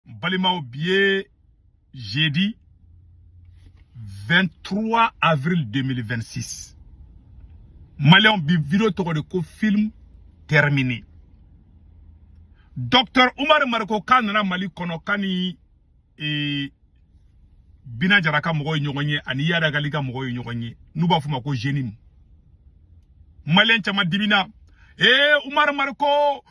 balimaw bi ye jeudi 23 avril 2026 maliyɛnw bi video tɔgɔ de ko film terminé docteur umar mariko k'a nana mali kɔnɔ k'a ni e, bina jara ka mɔgɔw ye ɲɔgɔn ye ani yadagali ka mɔgɔw ye ɲɔgɔn ye n'u b'a fɔ ma ko jenim maliyɛn caman de bɛna ee umar mariko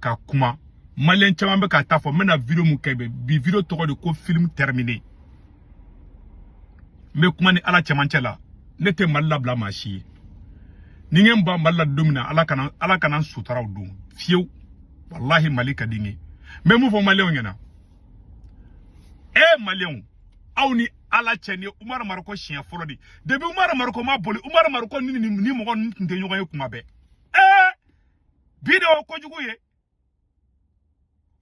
ka kuma maliyɛn caman bɛ k'a ta fɔ n bɛna video mun kɛ bi video tɔgɔ de ko film terminé n bɛ kuma ni ala cɛmancɛ la ne tɛ mali labila maa si ye ni n ban mali la don min na ala kana ala kana sutara o don fiyewu walahi mali ka di n ye n bɛ mun fɔ maliyɛnw ɲɛna e maliyɛnw aw ni ala cɛ nin umaru mariko siɲɛ fɔlɔ de depuis umaru mariko ma boli umaru mariko ni ni mɔgɔ ninnu tun tɛ ɲɔgɔn ye kuma bɛɛ bi de o kojugu ye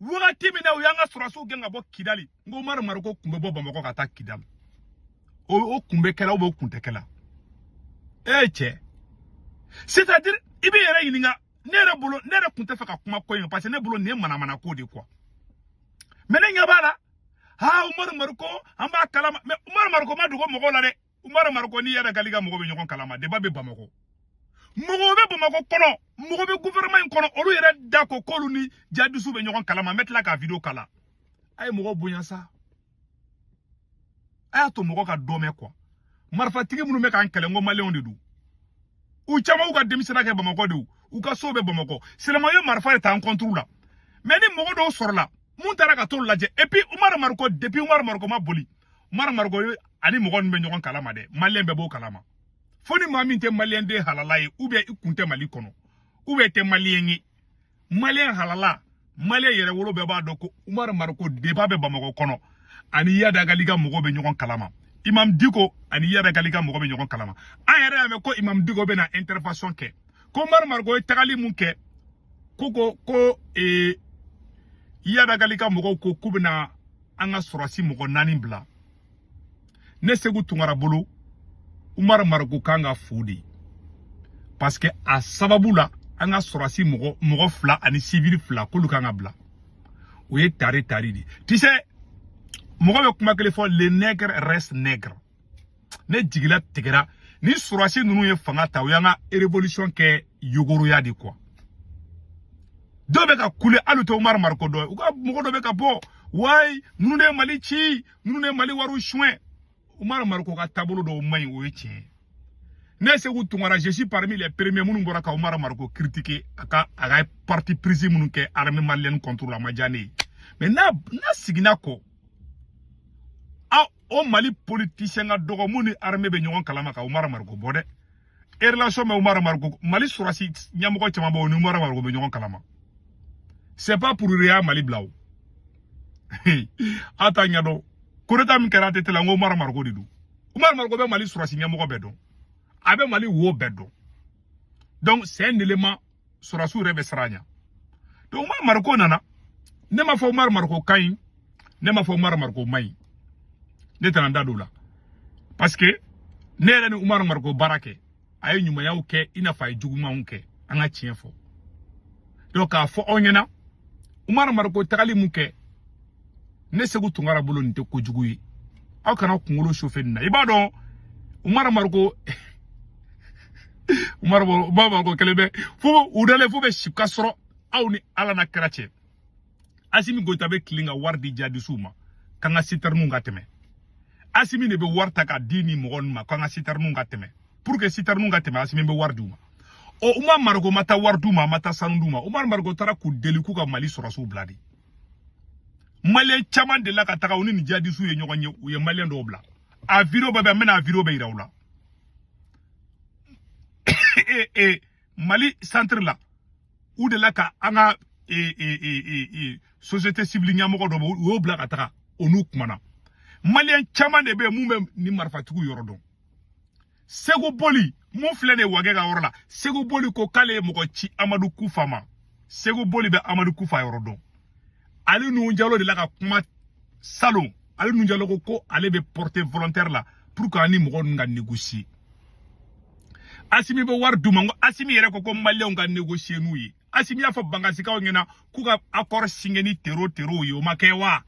wagati min na u y'an ka sɔrɔsiw gɛn ka bɔ kidali n ko umaru mariko kun bɛ bɔ bamakɔ ka taa kidali o kun bɛ kɛla o kun tɛ kɛla e ye cɛ c'est à dire i bɛ yɛrɛ ɲininka ne yɛrɛ bolo ne yɛrɛ kun t'a fɛ ka kuma ko in parce que ne bolo nin ye manamana ko de quoi mais ne ɲɛ b'a la aa umaru mariko an b'a kalama mais umaru mariko ma dogo mɔgɔw la dɛ umaru mariko ni yadagali ka mɔgɔ bɛ ɲɔgɔn kalama depuis a bɛ bamakɔ mɔgɔw bɛ bamakɔ kɔnɔ mɔgɔ bɛ gouvernement in kɔnɔ olu yɛrɛ da ko k'olu ni jadisw bɛ ɲɔgɔn kalama n bɛ tila ka video kala a ye mɔgɔ bonya sa a y'a to mɔgɔ ka dɔ mɛn quoi marifatigi minnu bɛ k'an kɛlɛ n ko maliyɛnw de don u caman y'u ka denmisɛnya kɛ bamakɔ de u ka sow bɛ bamakɔ seulement u ye marifa de ta an contre la mais ni mɔgɔ dɔw sɔrɔla mun taara ka t'olu lajɛ et puis umaru mariko depuis umaru mariko ma boli umar mariko a ni mɔgɔ nin bɛ ɲɔgɔn kalama dɛ maliyɛn bɛɛ b'o kalama fo ni maa min tɛ maliyɛn den halala ye ou bien i kun tɛ mali kɔnɔ ou bien i tɛ maliyɛn ye maliyɛn halala maliyɛn yɛrɛ wolo bɛɛ b'a dɔn ko umar mariko depuis a bɛ bamakɔ kɔnɔ a ni yadagali ka mɔgɔw bɛ ɲɔgɔn kalama imam diko ani yadagali ka mɔgɔw bɛ ɲɔgɔn kalama an yɛrɛ y'a mɛn ko imam diko bɛna intervention kɛ ko umar mariko ye tagali mun kɛ ko ko ko ee yadagali ka mɔgɔw ko k'u bɛna an ka sɔrɔsi mɔgɔ naani bila ne seku tunkara bolo umar mariko kan ka fo de parce que a sababu la an ka sɔrɔsi mɔgɔ mɔgɔ fila ani sivili fila k'olu kan ka bila o ye tari tari de ye tu sais mɔgɔ bɛ kuma kelen fɔ le nègre reste nègre ne jigi latigɛra ni sɔrɔsi ninnu ye fanga ta u y'an ka révolution kɛ yogoroya de quoi dɔw bɛ ka kule hali u tɛ umaru mariko dɔn u ka mɔgɔ dɔ bɛ ka bɔ wayi ninnu de ye mali ci ninnu de ye mali wariw suɲɛ umaru mariko ka taabolo dɔw man ɲi o ye tiɲɛ ye ne segu tunkara je suis parmi les premiers minnu bɔra ka umaru mariko critiquer a ka a ka parti prise minnu kɛ armée malienne contre la ma diya ne ye mais n'a n'a siginna ko o mali politisiyɛn ka dɔgɔ mun ni arme bɛ ɲɔgɔn kalama ka umar mariko bɔ dɛ relation bɛ umar mariko mali sɔrɔsi ɲɛmɔgɔ caman bɛ o ni umar mariko bɛ ɲɔgɔn kalama c'est pas pour rien mali bila o a t'a ɲɛdɔn kudeta min kɛra atete la n ko umar mariko de don umar mariko bɛ mali sɔrɔsi ɲɛmɔgɔ bɛɛ dɔn a bɛ mali wo bɛɛ dɔn donc c'est un élément sɔrɔsiw yɛrɛ bɛ siran a ɲɛ donc umar mariko nana ne ma fɔ umar mariko ka ɲi ne ma fɔ umar mariko man ɲi ne tɛna n da don o la parce que ne yɛrɛ ni umar mariko baara kɛ a ye ɲumanyaw kɛ i n'a fɔ a ye jugumanw kɛ an ka tiɲɛ fɔ donc k'a fɔ aw ɲɛna umar mariko tagali mun kɛ ne segu tunkara bolo nin tɛ kojugu ye aw kana kunkolo chauffer nin na i b'a dɔn umar mariko umar mariko kelen bɛ fo u dalen fo bɛ si ka sɔrɔ aw ni ala n'a kira cɛ asimi goyita bɛ tilen ka wari di jadisiw ma k'an ka sitɛriniw ka tɛmɛ asimi de bɛ wari ta ka di nin mɔgɔ ninnu ma k'an ka sitɛriniw ka tɛmɛ pour que sitɛriniw ka tɛmɛ asimi bɛ wari di u ma ɔ umar mariko ma taa wari d'u ma a ma taa sanu d'u ma umar mariko taara k'u deli k'u ka mali sɔrɔsiw bila de maliyɛn caman dela ka taga u ni nin jihadisiw ye ɲɔgɔn ye u ye maliyɛn dɔw bila a video bɛɛ bɛ n bɛna a video bɛɛ yira aw la e e mali centre la u dela ka an ka e e e e e société civile ɲɛmɔgɔ dɔ bɛ u y'o bila ka taga o n'u kumana maliyɛn caman de bɛ mun bɛ nin marifatigiw yɔrɔ dɔn segu boli mun filɛ nin wagɛ ka yɔrɔ la segu boli ko k'ale ye mɔgɔ ci amadu kufa ma segu boli bɛ amadu kufa yɔrɔ dɔn ali nu jalo dela ka kuma salon ali nu jalo ko ko ale bɛ porter volontaire la pour que an ni mɔgɔ ninnu ka négocier asimi bɛ wari d'u ma n ko asimi yɛrɛ ko ko maliyɛnw ka négocier n'u ye asimi y'a fɔ bangasikaw ɲɛna k'u ka accord signer ni tero terow ye o ma kɛ wa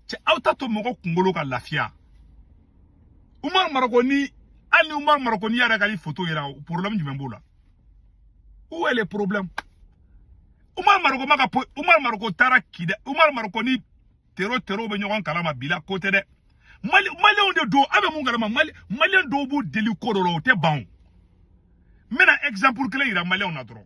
cɛ aw t'a to mɔgɔ kunkolo ka lafiya umaru mariko ni hali ni umaru mariko ni iyadi agali foto yera problème jumɛn b'o la où est le problème umaru mariko ma ka po umaru mariko taara kidal umaru mariko ni tero tero bɛ ɲɔgɔn kalama bi la ko tɛ dɛ mali maliyɛnw de don aw bɛ mun kalama mali maliyɛn dɔw b'u deli ko dɔ la o tɛ ban o n bɛna exemple kelen yira maliyɛnw na dɔrɔn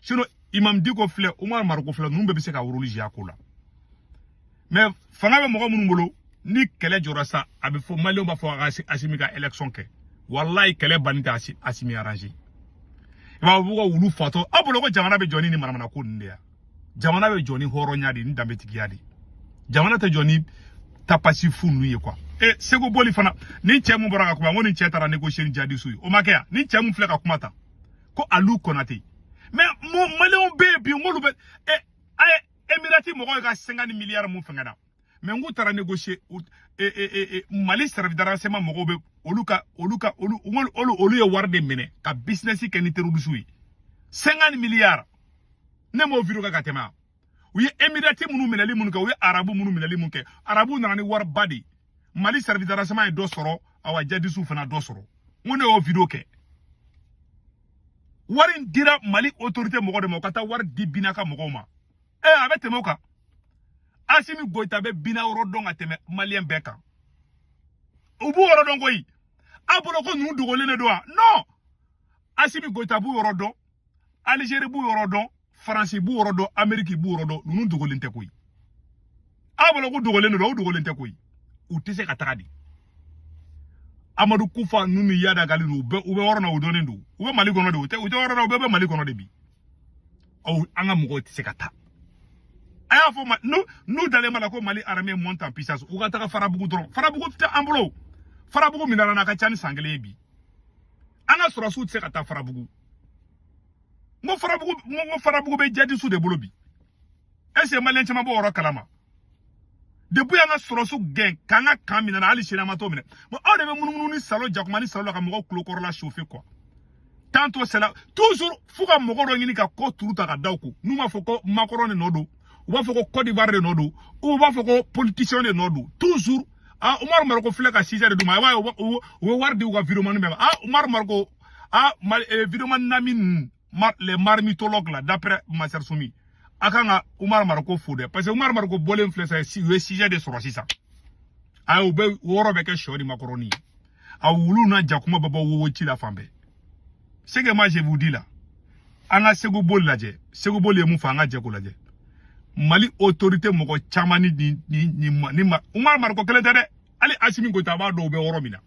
sinon imam diko filɛ umar mariko filɛ ninnu bɛɛ bɛ se ka rôle jouer a ko la mais fanga bɛ mɔgɔ minnu bolo ni kɛlɛ jɔra sa a bɛ fɔ maliyɛnw b'a fɔ a ka asimi ka election kɛ walayi kɛlɛ banni tɛ asimi arrange i b'a fɔ ko ka wulu fatɔ aw bolo ko jamana bɛ jɔ ni nin manamana ko ninnu de ya jamana bɛ jɔ ni hɔrɔnya de ni danbetigiya de jamana tɛ jɔ ni tapasi fu ninnu ye quoi e eh, segu boli fana ni cɛ mun bɔra ka kuma n ko nin cɛ taara négocier ni jadisu ye o ma kɛ yan ni cɛ mun filɛ ka kuma ta ko alu konate mais maliyɛnw bɛ yen bi n k'olu bɛ ɛ a ye emirati mɔgɔw ye ka cinquante milliards mun fɛngɛna mais n k'u taara negosiye mali service de renseignement mɔgɔw bɛ olu ka olu ka olu olu olu ye wari de minɛ ka bisinɛsi kɛ ni terorisiw ye cinquante milliards ne m'o video kɛ ka tɛmɛ a u ye emirati minnu minɛli minnu kɛ u ye arabu minnu minɛli minnu kɛ arabu nana ni wariba de mali service de renseignement ye dɔ sɔrɔ awa jadisiw fana dɔ sɔrɔ n ko ne y'o video kɛ wari in dira mali autorité mɔgɔ de ma u ka taa wari di bina ka mɔgɔw ma ee eh, a bɛ tɛmɛ o kan asimi goyita bɛ bina yɔrɔ dɔn ka tɛmɛ maliyɛn bɛɛ kan u b'u yɔrɔ dɔn koyi a bolo ko ninnu dogolen de don wa non asimi goyita b'u yɔrɔ dɔn Algérie b'u yɔrɔ dɔn faransi b'u yɔrɔ dɔn ameriki b'u yɔrɔ dɔn ninnu dogolen tɛ koyi aw bolo ko dogolen de don u dogolen tɛ koyi u tɛ se ka taga di amadu kufa ninnu ni iyad ag ghali don u bɛ u bɛ yɔrɔ na u dɔnnen don u bɛ mali kɔnɔ de u tɛ u tɛ yɔrɔ na u bɛɛ bɛ mali kɔnɔ de bi aw an ka mɔgɔw tɛ se ka taa a y'a fɔ u ma n'u n'u dalen b'a la ko mali armée monte en puissance u ka taga farabugu dɔrɔn farabugu tɛ an bolo farabugu minɛna a ka ca ni san kelen ye bi an ka sɔrɔsiw tɛ se ka taa farabugu n ko farabugu n ko n ko farabugu bɛ jadisu de bolo bi est ce que maliyɛn caman b'o yɔrɔ kalama depuis an ka sɔrɔsiw gɛn k'an ka camp minɛ na hali sini an ma t'o minɛ bon aw de bɛ munumunu ni salon jakuma ni salon la ka mɔgɔw tulokɔrɔla chauffer quoi tantôt c'est la toujours fo ka mɔgɔ dɔ ɲini ka ko turu ta ka da u kun n'u m'a fɔ ko makɔrɔn de nɔ don u b'a fɔ ko cote d'ivoire de nɔ don ou u b'a fɔ ko politicien de nɔ don toujours ah umaru mariko filɛ ka sujet de d'u ma i b'a ye u bɛ wari di u ka vidéoman bɛɛ ma ah umaru mariko ah mal, eh, vidéoman nami ninnu mar, les marmitologues là d'après Master Soumi a kan ka Umar Mariko fo dɛ parce que Umar Mariko bɔlen filɛ sa u ye sujet de sɔrɔ sisan a u bɛ yɔrɔ bɛɛ kɛ shɔ ni makɔrɔni ye a wulu ni jakuma bɛ bɔ wowo ci la fan bɛɛ ce que moi je vous dis là an ka segu boli lajɛ segu boli ye mun fɔ an ka jɛ k'o lajɛ mali autorité mɔgɔ caman ni ni ni ni ni umar mariko kelen tɛ dɛ hali asimi goyita a b'a dɔn u bɛ yɔrɔ min na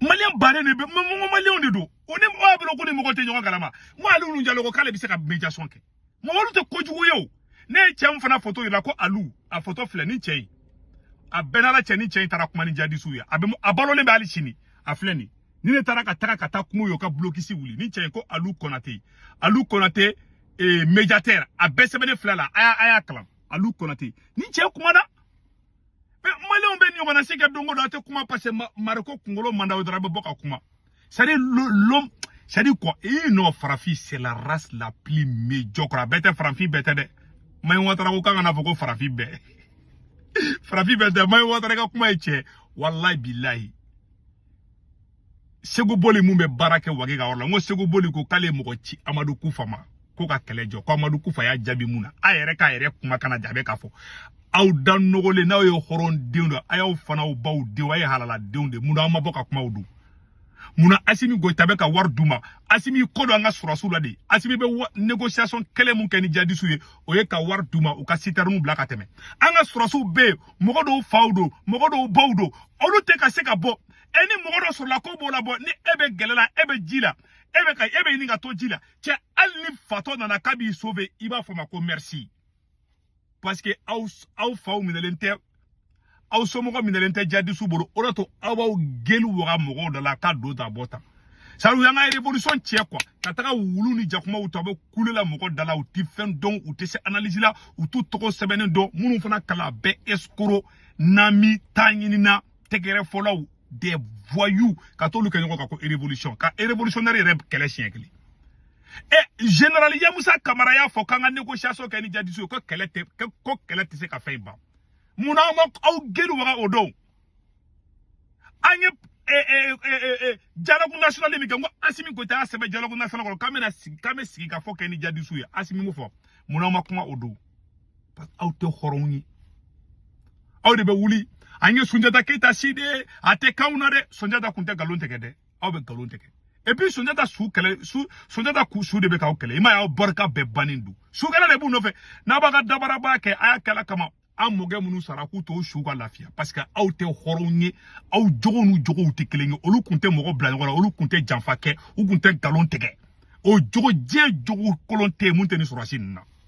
maliyɛn bannen de bɛ n ko maliyɛnw de don o ni mɔgɔ bolo ko ni mɔgɔ tɛ ɲɔgɔn kalama n ko alu nuhun jalo ko k'ale bɛ se ka médiation kɛ mɔgɔ olu tɛ kojugu ye o ne ye cɛ min fana foto yira ko alu a foto filɛ nin cɛ ye a bɛ n'ala cɛ nin cɛ in taara kuma ni jadisiw ye a bɛ a balolen bɛ hali sini a filɛ nin ni ne taara ka taga ka taa kuma u ye u ka blocus wuli nin cɛ ye ko alu kɔnate alu kɔnate ee eh, médiateur a bɛɛ sɛbɛnnen filɛ la a y'a a y'a kalan alu kɔnate nin cɛ kumana mais maliyɛnw bɛ ɲɔgɔnna si kɛ don o don a tɛ kuma parce que mariko kunkolo man d'aw dɔrɔn a bɛ bɔ ka kuma c'est à dire l'homme c'est à dire quoi ee non farafin c'est la race la plus médiocre a bɛɛ tɛ farafin bɛɛ tɛ dɛ mayi watara ko k'an kana fɔ ko farafin bɛɛ farafin bɛɛ tɛ mayi watara ka kuma ye tiɲɛ walayi bilayi seku boli min bɛ baara kɛ wage ka yɔrɔ la n ko seku boli ko k'ale mɔgɔ ci amadu kufa ma ko ka kɛlɛ jɔ ko amadu kufa y'a jaabi mun na a yɛrɛ k'a yɛrɛ kuma kana jaabi k'a fɔ aw da nɔgɔlen n'aw ye hɔrɔn denw don a y'aw faw n'aw baw denw a ye halala denw de mun na aw ma bɔ ka kuma o don mun na asimi goyita bɛ ka wari d'u ma asimi ko don an ka sɔrɔsiw la de asimi bɛ négociation kelen min kɛ ni jadisiw ye o ye ka wari d'u ma u ka sitɛriniw bila ka tɛmɛ an ka sɔrɔsiw bɛ yen mɔgɔ dɔw faw don mɔgɔ dɔw baw don olu tɛ ka se ka bɔ e ni mɔgɔ dɔ sɔrɔla k'o b'u labɔ ni e bɛ gɛlɛ la e bɛ ji la e bɛ ka e bɛ ɲini ka to ji la cɛ hali ni fatɔ nana k'a b'i sauver i b'a fɔ ma ko merci parce que aw aw faw minɛlen tɛ aw somɔgɔ minɛlen tɛ jadisiw bolo o de to aw b'aw gueule waga mɔgɔw da la k'a don ta bɔ tan sabu y'an ka révolution tiɲɛ quoi ka taga wulu ni jakumaw ta u bɛ kule la mɔgɔ da la u tɛ fɛn dɔn u tɛ se analyse la u t'u tɔgɔ sɛbɛnnen dɔn minnu fana kalan a bɛɛ escroc nami ta ɲinina tɛgɛrɛfɔlaw des voyous ka t'olu kɛ ɲɔgɔn kan ko révolution ka révolutionnaire yɛrɛ kɛlɛ siɲɛ kelen ɛ eh, général yamusa kamara y'a fɔ k'an ka négociation kɛ ni jadisiw ye ko kɛlɛ tɛ ko kɛlɛ tɛ se ka fɛn ban mun na aw ma aw gueule waga o don an ye dialogue national min kɛ n ko asimi goyita y'a sɛbɛn dialogue national kɔnɔ k'an bɛna sigi k'an bɛ sigikafɔ kɛ ni jadisiw ye asimi m'o fɔ mun na aw ma kuma o don aw tɛ hɔrɔnw ye aw de bɛ wuli an ye sunjata keyita si de ye a tɛ kanw na dɛ sunjata kun tɛ nkalon tigɛ dɛ aw bɛ nkalon tigɛ et puis sunjata su kɛlɛ su sunjata ku su de bɛ k'aw kɛlɛ i m'a y'aw barika bɛɛ bannen don su kɛlɛ de b'u nɔfɛ n'a b'a ka dabaraba kɛ a y'a k'ala kama an mɔkɛ minnu sara k'u to su ka lafiya parce que aw tɛ hɔrɔnw ye aw jogow n'u jogow tɛ kelen ye olu kun tɛ mɔgɔ bila ɲɔgɔn na olu kun tɛ janfa kɛ u kun tɛ nkalon tigɛ o jogo diɲɛ jogo kolon tɛ yen min tɛ nin sɔrɔsi ninnu na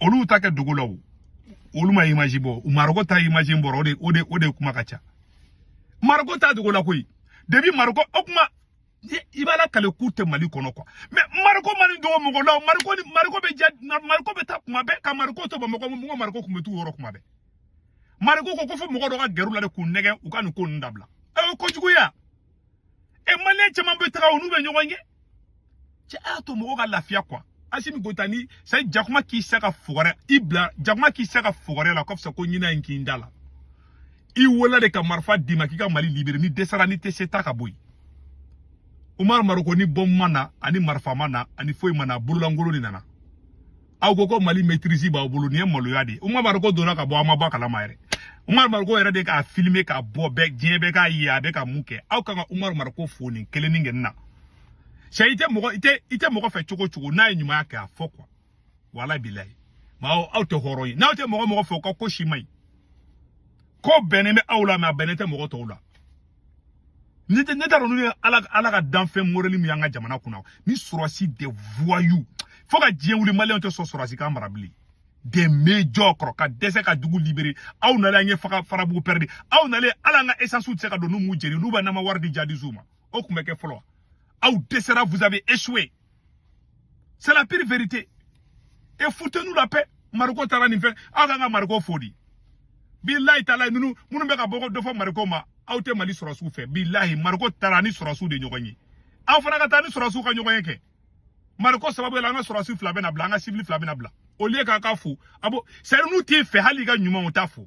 olu ta kɛ dogo la o olu ma image bɔ mariko ta image bɔra o de o de o de kuma ka ca mariko ta dogo la koyi depuis mariko o kuma i b'a lakali k'u tɛ mali kɔnɔ kuwa mɛ mariko ma nin dogo mɔgɔ la mariko ni mariko bɛ ja mariko bɛ taa kuma bɛɛ ka mariko to bamakɔ mɔgɔ mariko tun bɛ t'u yɔrɔ kuma bɛɛ mariko ko ko fo mɔgɔ dɔ ka gɛrɛ u la de k'u nɛgɛ u ka nin ko ninnu dabila aw ye kojuguya e maliyɛn caman bɛ taga olu bɛ ɲɔgɔn ye cɛ a y'a to mɔgɔw ka lafiya kuwa asimi goyita ni sa jakuma k'i sa ka fogɛrɛ i bila jakuma k'i sa ka fogɛrɛ la kɔfisa ko ɲinan in k'i da la i wolola de ka marifa d'i ma k'i ka mali libere n'i dɛsɛra n'i tɛ se taa ka bɔ yen umar mariko ni bɔmu ma na ani marifa ma na ani foyi ma na bololankolon de nana aw ko ko mali maîtrise b'aw bolo nin ye maloya de ye umar mariko donna ka bɔ aw ma bɔ a kalama yɛrɛ umar mariko yɛrɛ de k'a filime k'a bɔ bɛɛ diɲɛ bɛɛ k'a ye a bɛ ka mun kɛ aw kan ka umar mariko fo nin kelenni kɛ nin na sɛ i tɛ mɔgɔ i tɛ i tɛ mɔgɔ fɛ cogo cogo n'a ye ɲumanya kɛ a fo kuwa wala bilayi maaw aw tɛ hɔrɔn ye n'aw tɛ mɔgɔ mɔgɔ fɛ o ka ko si man ɲi ko bɛnnen bɛ aw la mɛ a bɛnnen tɛ mɔgɔ tɔw la ne ne t'a dɔn n'u ye ala ala ka danfɛn modɛli min y'an ka jamana kunna ni sɔrɔsi des voyous fo ka diɲɛ wuli maliyɛnw tɛ sɔn sɔrɔsi k'an mara bilen des médiocres ka dɛsɛ ka dugu libere aw nalen an ye faga farabugu pɛrɛdi aw nalen ala an ka esansiw tɛ se ka don n'u m'u jeni n'u bɛ n'an ma wari di jadizuw ma o tun bɛ kɛ fɔlɔ aw dɛsɛra vous avez échoué c'est la pire vérité et foutez nous la paix mariko taara nin fɛ aw kan ka mariko fo di bilayi taala ninnu minnu bɛ ka bɔ dɔ fɔ mariko ma aw tɛ mali sɔrɔsiw fɛ bilayi mariko taara ni sɔrɔsiw de ɲɔgɔn ye aw fana ka taa ni sɔrɔsiw ka ɲɔgɔn ye kɛ mariko sababu la an ka sɔrɔsi fila bɛna bila an ka sibili fila bɛna bila au lieu k'aw k'a fo ah bon c'est à dire n'u t'i fɛ hali i ka ɲuman u t'a fɔ